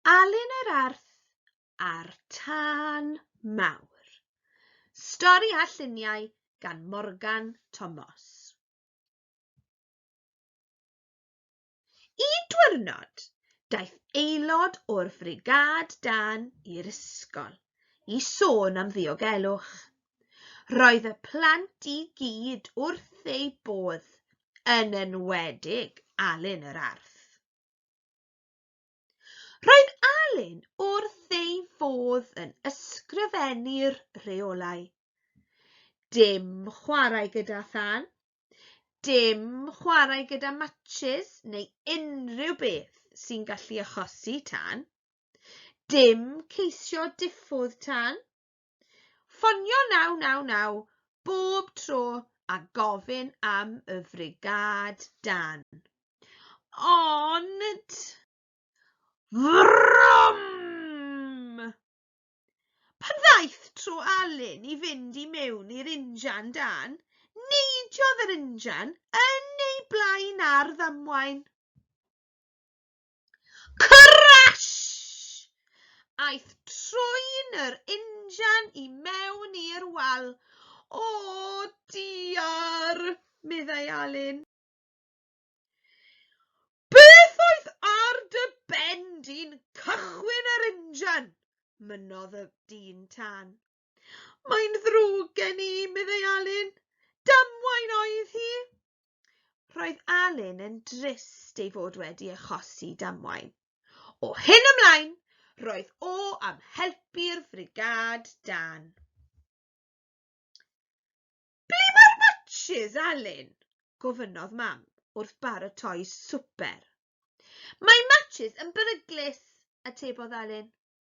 Alun yr Arth a'r Tân Mawr. Stori a lluniau gan Morgan Tomos. Un diwrnod, daeth aelod o'r frigâd dan i'r ysgol i sôn am ddiogelwch. Roedd y plant i gyd wrth eu bodd, yn enwedig Alun yr Arth. Roedd Alun wrth ei fodd yn ysgrifennu'r rheolau. Dim chwarae gyda thân, dim chwarae gyda matches neu unrhyw beth sy'n gallu achosi tân, dim ceisio diffodd tân, Ffonio 999 bob tro a gofyn am y frigâd dân. Ond... Vrwm! Pan ddaeth tro Alun i fynd i mewn i'r injan dân, neidiodd yr injan yn ei blaen ar ddamwain. Crash! Aeth troen yr injan i mewn i'r wal. O, diar! meddai Alun. Beth oedd ar dy ben di'n cychwyn yr injan? mynnodd y dyn tân. Mae'n ddrwg gen i, meddai Alun. Damwain oedd hi! Roedd Alun yn drist ei fod wedi achosi damwain. O hyn ymlaen, roedd o am helpu'r frigâd dan. Ble mae'r matches, Alun? gofynnodd Mam wrth baratoi swper. Mae matches yn beryglus, atebodd Alun.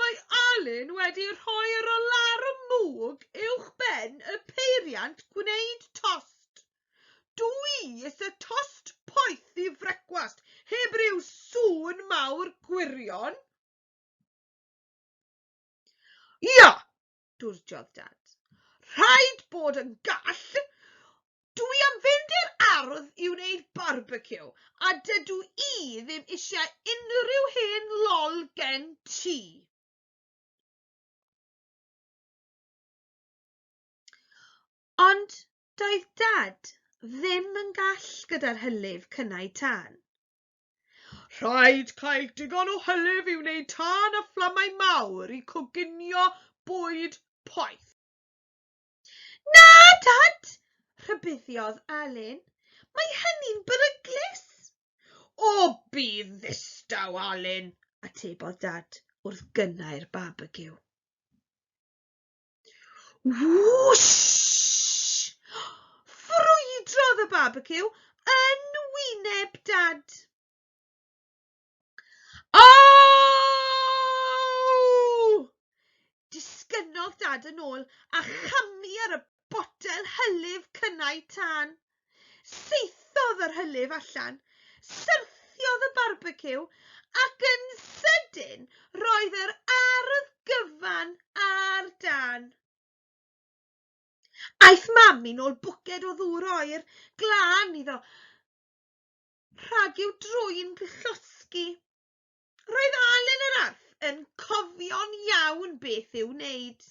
Mae Alun wedi rhoi yr alarwm mwg uwch ben y peiriant gwneud tost. Dw i isie tost poeth i frecwast heb ryw sŵn mawr gwirion. Ia, dwrdiodd Dad. Rhaid bod yn gall! Dw i am fynd i'r ardd i wneud barbeciw, a dydw i ddim eisiau unrhyw hen lol gen ti. Ond doedd Dad ddim yn gall gyda'r hylif cynnau tân. Rhaid cael digon o hylif i wneud tân a fflamau mawr i coginio bwyd poeth. Na, Dad! rhybuddiodd Alun. Mae hynny'n beryglus! O, bydd ddistaw, Alun! atebodd Dad wrth gynnau'r barbeciw. Wwshh! Ffrwydrodd y barbeciw yn wyneb Dad. Aww! Disgynnodd Dad yn ôl a chamu ar y botel hylif cynnau tân. Saethodd yr hylif allan, syrthiodd y barbeciw, ac yn sydyn roedd yr ardd gyfan ar dân. Aeth Mam yn ôl bwced o ddŵr oer glân iddo rhag i'w drwyn llosgi. Roedd Alun yr Arth yn cofio'n iawn beth i'w wneud.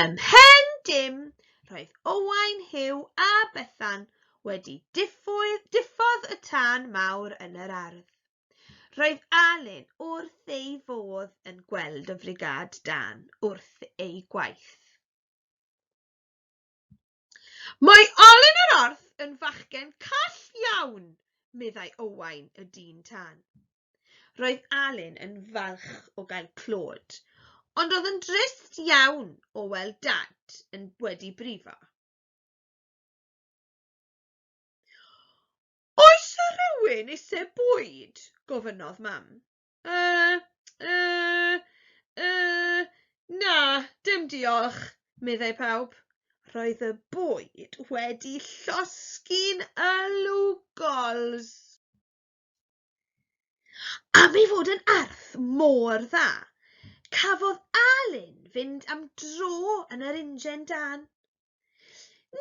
Ym mhen dim, roedd Owain Huw a Bethan wedi diffodd, diffodd y tân mawr yn yr ardd. Roedd Alun wrth ei fodd yn gweld y frigâd dan wrth eu gwaith. Mae Alun yr Orth yn fachgen call iawn, meddai Owain y dyn tân. Roedd Alun yn falch o gael clod, ond oedd yn drist iawn o weld Dad yn wedi brifo. Oes yna rywun eisiau bwyd? gofynnodd Mam. Uh, uh, uh, na, dim diolch, meddai pawb. Roedd y bwyd wedi llosgi'n y lwgols. Am ei fod yn arth mor dda, cafodd Alun fynd am dro yn yr injan dân.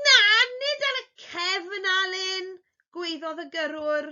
Na, nid ar y cefn, Alun, gwaeddodd y gyrrwr.